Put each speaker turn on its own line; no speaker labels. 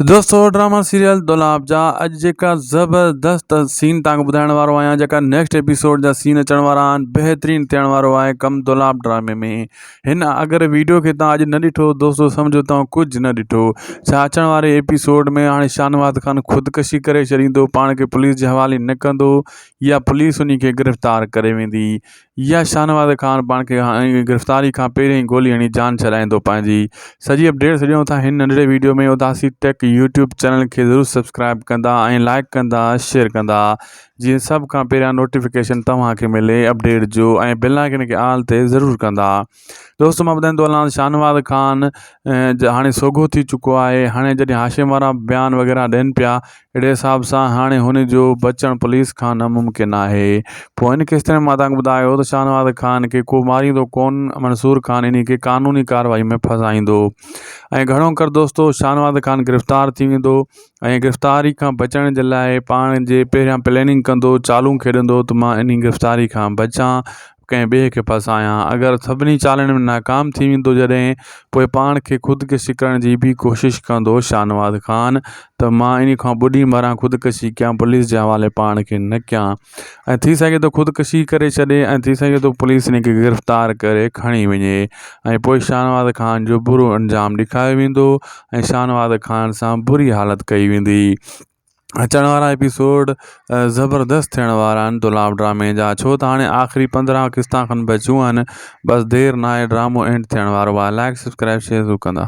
دوستو drama serial دولاب جا اڄ جيڪا زبردست سين تانکو ٻڌائڻ وارو آهيان جيڪا نيڪسٽ ايپيسوڊ جا سين اچڻ وارا آهن بهترين ٿيڻ وارو آهي ڪم دولاب ڊرامي ۾ هن اگر ويڊيو کي تان اڄ نه ڏٺو دوستو سمجهو تان ڪجهه نه ڏٺو ڇا اچڻ واري ايپيسوڊ ۾ هاڻي شانواز خان خودڪشي ڪري ڇڏيندو پاڻ کي پوليس جي حوالي نه ڪندو يا پوليس انهي کي گرفتار ڪري ويندي يا شاهنواز خان پاڻ کي گرفتاري کان پهرين ئي گولي هڻي جان ڇڏائيندو پنهنجي سڄي اپڊيٽ سڄڻو ٿا هن ننڍڙي وڊيو ۾ اداسي ٽيڪ يوٽيوب چينل کي ضرور سبسڪرائيب ڪندا ۽ لائيڪ ڪندا شيئر ڪندا جيئن سڀ کان پهريان نوٽيفڪيشن توهان کي ملي اپڊيٽ جو ۽ بيل آئيڪن کي آل تي ضرور ڪندا دوستو مان ٻڌائين ٿو هلان شاهنواز خان جا هاڻي سوگهو ٿي چڪو آهي هاڻي جڏهن هاشم وارا بيان وغيره ڏين پيا اهڙي حساب سان هاڻي هن جو بچڻ پوليس کان ناممڪن آهي پوء ان قسط ۾ مان تانکي ٻڌايو ته شاهنواز خان کي ڪو ماريندو ڪون منصور خان انهي کي قانوني ڪارروائي ۾ ڦاسائيندو ۽ گهڻو ڪر دوستو شاهنواز خان گرفتار ٿي ويندو ۽ گرفتاري کان بچڻ جي لاء پاڻ جي پهريان پليننگ ڪندو چالون کيڏندو ته مان انهي گرفتاري کان بچان ڪنهن ٻئي کي ڦاسايان اگر سڀني چالن ۾ ناڪام ٿي ويندو جڏهن پوء پاڻ کي خودڪشي ڪرڻ جي به ڪوشش ڪندو شاهنواز خان ته مان انهي کان ٻڏي مران خودڪشي ڪيان پوليس جي حوالي پاڻ کي نه ڪيان ۽ ٿي سگهي ٿو خودڪشي ڪري ڇڏي ۽ ٿي سگهي ٿو پوليس انهي کي گرفتار ڪري کڻي وڃي ۽ پوء شاهنواز خان جو برو انجام ڏيکاريو ويندو ۽ شاهنواز خان سان بري حالت ڪئي ويندي. اچڻ وارا ايپيسوڊ زبردست ٿيڻ وارا آهن دولاب ڊرامي جا ڇو ته حاڻي آخري پندرهن قسطا کن بچيون آهن بس دير ناهي ڊرامو اينڊ ٿيڻ وارو آهي لائڪ سبسڪرائب شيئر ضرور ڪندا